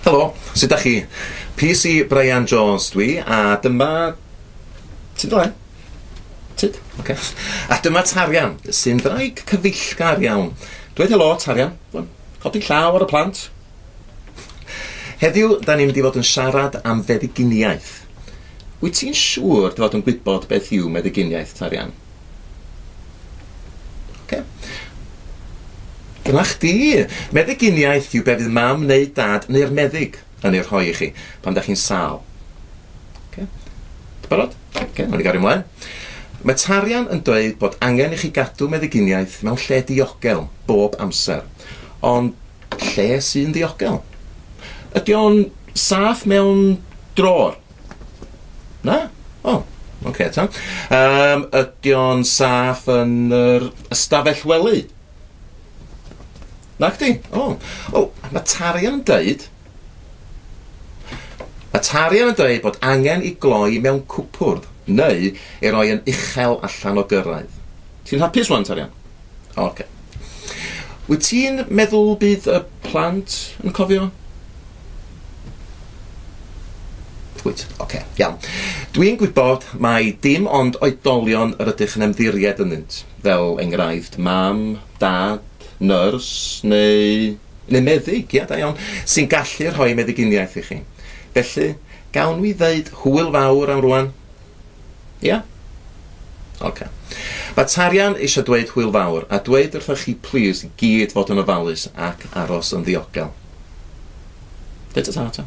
Helo, sut da chi? PC Brian Jones dwi, a dyma... Ti'n dweud? Tyd? Ok. A dyma Tarian, sy'n ddraig cyfeillgar iawn. Dweud helo, Tarian. Codi llaw ar y plant. Heddiw, da ni'n mynd i fod yn siarad am feddyginiaeth. Wyt ti'n siŵr dy fod yn gwybod beth yw meddyginiaeth, Tarian? Oce. Dyna chdi! Meddyginiaeth yw be fydd mam neu dad neu'r meddyg yn ei rhoi i chi pan da chi'n sâl. Oce. Ti'n barod? Oce, nawn ni gario ymlaen. Mae Tarian yn dweud bod angen i chi gadw meddyginiaeth mewn lle diogel bob amser. Ond Lle sy'n ddiogel? Ydy o'n saff mewn drôr? Na? O, ocê ta. Yym, ydy o'n saff yn yr ystafell wely? Nacdi? O. O, ma' Tarian yn deud Mae tarian yn dweud bod angen i gloi mewn cwpwrdd, neu ei roi yn uchel allan o gyrraedd. Ti'n hapus rwan, tarian? Ok. Wyt ti'n meddwl bydd y plant yn cofio? Wyt, ok, iawn. Dwi'n gwybod mai dim ond oedolion yr ydych yn ymddiried ynddynt, fel enghraifft mam, dad, nyrs, neu... neu meddyg, ia, da iawn, sy'n gallu rhoi meddyginiaeth i chi. Felly, gawn ni ddeud hwyl fawr am rwan? Ia? Oce. Okay. Mae Tarian eisiau dweud hwyl fawr a dweud wrthoch chi plis i gyd fod yn ofalus ac aros yn ddiogel. Dweud ta ta.